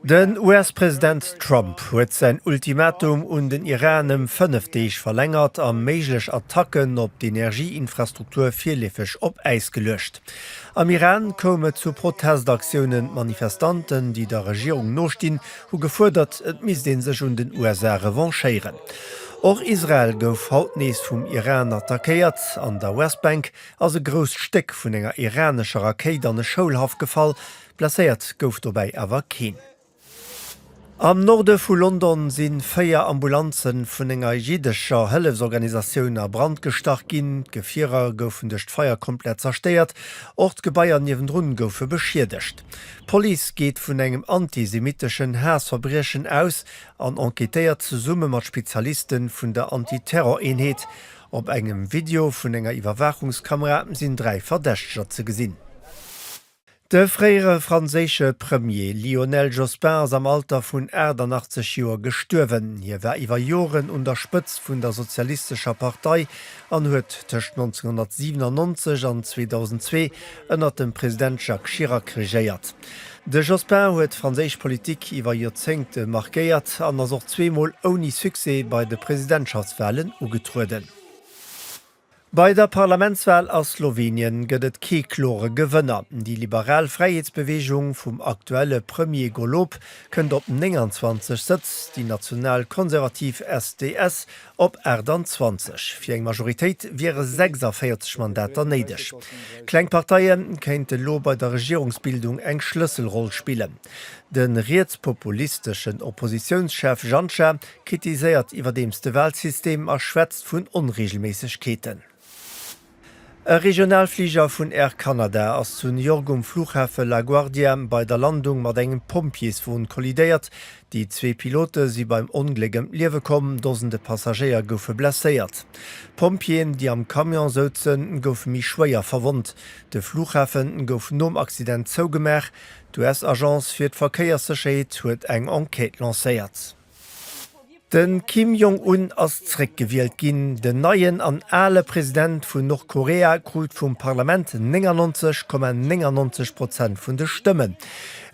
Den US-President Trump huet säin Ultimatum un den Iran ëm fënnef Deeg verlängert a méiglech Attacken op d'Energieinfrastruktur virleefeg op Äis geluecht. Am Iran koum et zu Protestaktiounen. D'Manifestanten, déi der Regierung nostinn, hu gefuerdert, et misst ee sech un den USA revanchéieren. Och Israel gouf haut nees vum Iran attackéiert. An der Westbank ass e grousst Stéck vun enger iranescher Rakéit an e Schoulhaff gefall. Blesséiert gouf dobäi awer keen. Am Norde vu London si véier Ambulanze vun enger jiddescher Hëllefsorganisatioun a Brand gestach ginn. D'Gefierer goufen duerch d'Feier komplett zerstéiert, och d'Gebaier niewendrun goufe beschiedegt. D'Police geet vun engem antisemitteschen Haassverbriechen aus an enquêtéiert zesumme mat Spezialiste vun der Anti-Terror-Eenheet. Op engem Video vun enger Iwwerwaachungskamera sinn dräi Verdächteger ze gesinn. De fréiere franséische Premier Lionel Jospin ass am Alter vun 88 Joer gestuerwen. Hie war iwwer Joren un der Spëtzt vun der Sozialistescher Partei an huet tëscht 1997 an 2002 ënner dem President Jacques Chirac regéiert. De Jospin huet d'franséisch Politik iwwer Joerzéngte markéiert an ass och zweemol ouni Succès bei de Presidentschaftswalen ugetrueden. Bei der Parlamentswal a Slowenien gëtt et kee klore Gewënner. Déi liberal Fräiheetsbeweegung vum aktuelle Premier Golob kënnt op 29 Sëtz, déi nationalkonservativ SDS op 28. Fir eng Majoritéit wiere 46 Mandater néideg. Kleng Parteie kéinte lo bei der Regierungsbildung eng Schlësselroll spillen. De rietspopulisteschen Oppositiounschef Janša kritiséiert iwwerdeems de Walsystem a schwätzt vun Onreegelméissegkeeten. E Regionalfliger vun Air Canada ass zu New York um Fluchhafe LaGuardia bei der Landung mat engem Pompjeeswon kollidéiert. Déi zwee Pilote si beim Ongléck ëm d'Liewe komm, Dosende Passagéier goufe blesséiert. D'Pompjeeën, déi am Camion souzen, goufe méi schwéier verwonnt. De Fluchhafe gouf nom Accident zougemaach. D'US-Agence fir d'Verkéierssécherheet huet eng Enquête lancéiert. De Kim Jong Un ass zréck gewielt ginn. Den neien an ale President vun Nordkorea krut vum Parlament 99,99 Prozent vun de Stëmmen.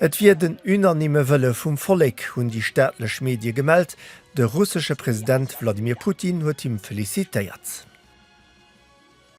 Et wier den unanimme Wëlle vum Vollek, hunn déi staatlech Medie gemellt. De russesche President Wladimir Putin huet him felicitéiert.